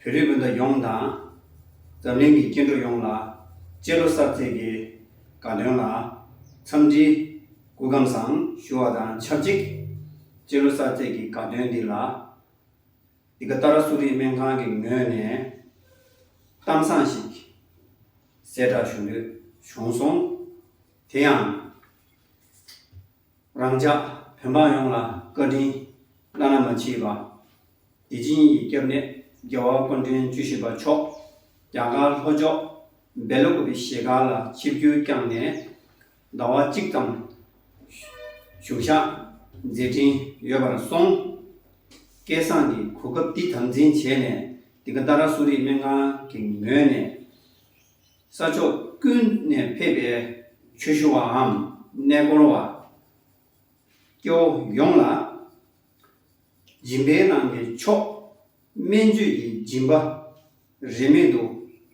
བོད་རིགས་སྤུན་ཟླ་ཡོངས་དང། འཛམ་གླིང་གི་སྐྱེ་འགྲོ་ཡོངས་ལ། སྤྱི་ལོ་གསར་ཚེས་ཀྱི་དགའ་སྟོན་ལ། འཚམས་འདྲི། སྐུ་ཁམས་བཟང་ཞུ་བ་དང་ཆབས་ཅིག། སྤྱི་ལོ་གསར་ཚེས་ཀྱི་དགའ་སྟོན་འདི་ལ། འདི་ག་ཏཱ་ར་གསོ་རིག་སྨན་ཁང་གི་ངོས་ནས། གཏམ་བཟང་ཞིག། གསལ་བསྒྲགས་ཞུ་འདོད་བྱུང་སོང། དེ་ཡང། རང་ཅག་བོད་འབངས་ཡོངས་ལ་བཀའ་དྲིན་བླ་ན་མ་མཆིས་པ། བདེ་སྦྱིན་ཡི་སྐྱབས་གནས་རྒྱལ་བ་ཀོང་སྤྲུལ་བཅུ་བཞི་པ་མཆོག་རྒྱ་གར་ལྷོ་ཕྱོགས་སྦེ་ལོ་ཀོབི་ཞེས་ག་ལ་ཆིབས་བསྒྱུར་བསྐྱངས་ནས་ཟླ་བ་གཅིག་ཙམ་བཞུགས་ཤག་མཛད་དྲིན་ཡོད་པར་སོང། སྐལ་བཟང་གིས་གོ་སྐབས་འདི་དམ་འཛིན་བྱས་ནས་དེ་ག་ད་ར་གསོ་རིག་སྨན་ཁང་གི་ངོས་ནས། ས་ཕྱོགས་ཀུན་ནས་ཕེབས་པའི་ཆོས་ཞུ་བའམ་གནས་སྐོར་བ། སྐྱེ་བོ་ཡོངས་ལ་སྦྱིན་པའི་ནང་གི་མཆོག་སྨན་བཅོས་ཀྱི་སྦྱིན་པ་རིན་མེད་དུ་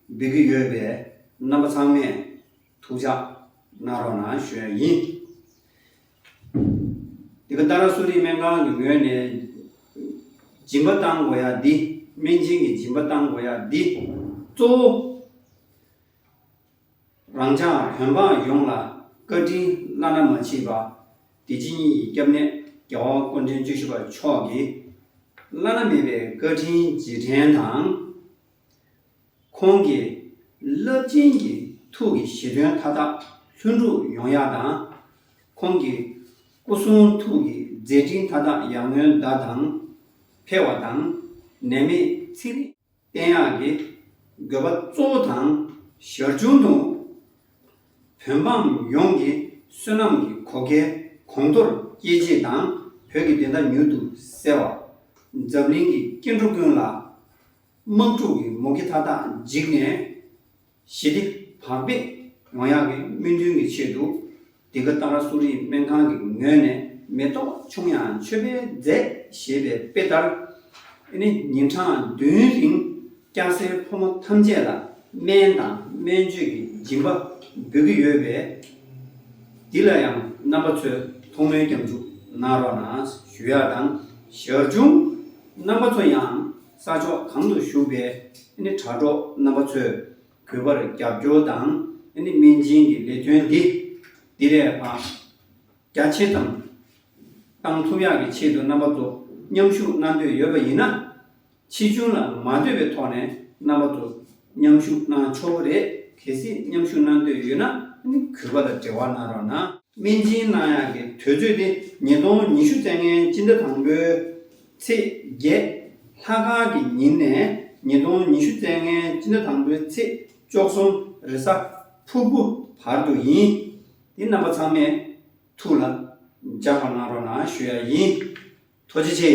འབུལ་གྱི་ཡོད་པས་རྣམ་པ་ཚང་མས་ཐུགས་ཕྱག་གནང་རོགས་གནང་ཞུ་ཡ་ཡིན། འདི་ག་རྟ་ར་སུ་རིའི་སྨན་ཁང་གི་ངོས་ནས། སྦྱིན་པ་བཏང་དགོས་ཡ་འདི། སྨན་སྦྱིན་གྱི་སྦྱིན་པ་བཏང་དགོས་ཡ་འདི། གཙོ་བོ། རང་ཅག་བོད་འབངས་ཡོངས་ལ་བཀའ་དྲིན་བླ་ན་མ་མཆིས་པ། བདེ་སྐྱིད་གཉིས་ཀྱི་སྐྱབས་གནས་རྒྱལ་བ་དཀོན་མཁྱེན་བཅུ་བཞི་པ་མཆོག་གིས། བླ་ན་མེད་པའི་བཀའ་དྲིན་རྗེས་དྲན་དང། ཁོང་གིས་རླབས་ཆེན་གྱི་ཐུགས་ཀྱི་བཞེད་དོན་མཐའ་དག་ལྷུན་གྲུབ་ཡོང་ཡག་དང། ཁོང་གི་སྐུ་གསུང་ཐུགས་ཀྱི་མཛད་འཕྲིན་མཐའ་དག་ཡར་ངོའི་ཟླ་དང་འཕེལ་བ་དང། ནད་མེད་ཚེ་རིང་བསྟན་ཡག་གི་དགོས་པ་གཙོ་བོ་དང་ཞར་བྱུང་དུ། བོད་འབངས་ཡོངས་ཀྱི་བསོད་ནམས་ཀྱི་གོ་སྐལ་གོང་མཐོར་སྐྱེད་བྱེད་དང་བོད་ཀྱི་བདེན་མཐའ་མྱུར་དུ་གསལ་བ། འཛམ་གླིང་གི་སྐྱེ་འགྲོ་ཀུན་ལ་དམག་འཁྲུག་གི་མུ་གེ་མཐའ་དག་འཇིག་ནས། ཞི་བདེ་བག་ཕེབས་ཡོང་ཡག་གི་སྨོན་འདུན་གྱི་ཆེད་དུ། འདི་ག་ཏཱ་ར་སུ་རིའི་སྨན་ཁང་གི་ངོས་ནས་མེ་ཏོག་ཆུང་ཡང་མཆོད་པའི་རྫས་ཞེས་པའི་དཔེ་ལྟར། ཨེ་ནི་ཉིན་གྲངས་བདུན་རིང་སྐྱ་སེར་ཕོ་མོ་ཐམས་ཅད་ལ་སྨན་དང་སྨན་བཅོས་ཀྱི་སྦྱིན་པ་འབུལ་གྱི་ཡོད་པས། འདི་ལ་ཡང་རྣམ་པ་ཚོས་ཐོག་མའི་སྐྱབས་འཇུག་གནང་རོགས་གནང་ཞུ་ཡག་དང། ཞར་བྱུང་རྣམ་པ་ཚོ་ཡང་ས་ཕྱོགས་གང་དུ་བཞུགས་པའི་དྲ་གྲོགས་རྣམ་པ་ཚོས་གུས་པར་རྒྱབ་སྐྱོར་དང་སྨན་སྦྱིན་གྱི་ལས་དོན་འདི་དེ་བས་ལྷག་རྒྱ་ཆེ་ཙམ་གཏང་ཐུབ་ཡག་གི་ཆེད་དུ་རྣམ་པ་ཚོ་མཉམ་ཞུགས་གནང་འདོད་ཡོད་པ་ཡིན་ན་ཕྱིས་འབྱུང་ལ་མ་ལྟོས་པའི་ཐོག་ནས་རྣམ་པ་ཚོ་མཉམ་ཞུགས་གནང་ཆོག་གི་རེད་གལ་སྲིད་མཉམ་ཞུགས་གནང་འདོད་ཡོད་ན་གུས་པ་ལ་འབྲེལ་བ་གནང་རོགས་གནང། སྨན་སྦྱིན་གནང་ཡག་གི་དུས་ཚོད་དེ་ཉིས་སྟོང་ཉི་ཤུ་ཚན་ལྔའི་སྤྱི་ཟླ་དང་པོའི་ཚེས་བརྒྱད། ལྷ་ཁང་གི་ཉིན་ནས་ཉིས་སྟོང་ཉི་ཤུ་ཚེས་ལྔའི་སྤྱི་ཟླ་དང་པོའི་ཚེས་བཅོ་གསུམ་རེས་གཟའ་ཕུར་བུ་བར་དུ་ཡིན། དེ་རྣམ་པ་ཚང་མས་ཐུགས་ལ་འཇགས་པ་གནང་རོགས་གནང་ཞུ་ཡ་ཡིན། ཐུགས་རྗེ་ཆེ།